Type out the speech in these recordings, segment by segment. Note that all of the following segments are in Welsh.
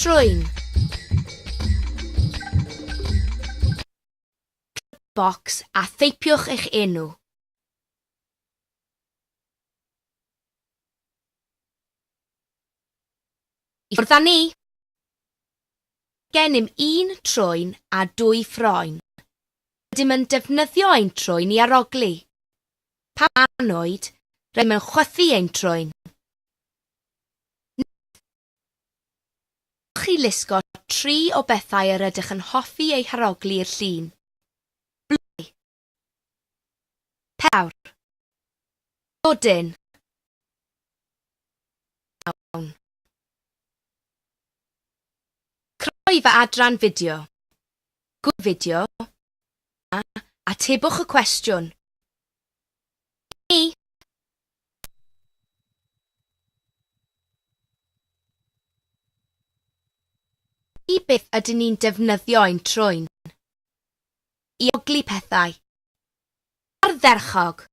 Trwyn. Box a theipiwch eich enw. I ffwrdd â ni! Gennym un trwyn a dwy ffroen. Rydym yn defnyddio ein trwyn i arogli. Pa man oed, rydym yn chwythu ein troen. chi lusgo tri o bethau yr ydych yn hoffi eu harogli i'r llun. Blwy. Pewr. Dodyn. Awn. Croe fy adran fideo. Gwy fideo. a atebwch y cwestiwn. Ni. I beth ydyn ni'n defnyddio ein trwyn? I oglu pethau. Ardderchog!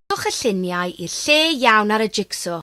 Rhowch y lluniau i'r lle iawn ar y jigsaw.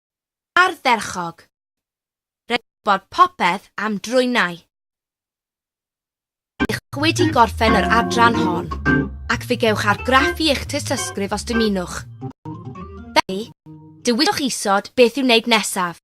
Ardderchog! Rhaid gwybod popeth am drwynau. Ydych wedi gorffen yr adran hon, ac fe gewch argraffu eich tystysgrif os dymunwch. Felly, dewiswch isod beth i'w wneud nesaf.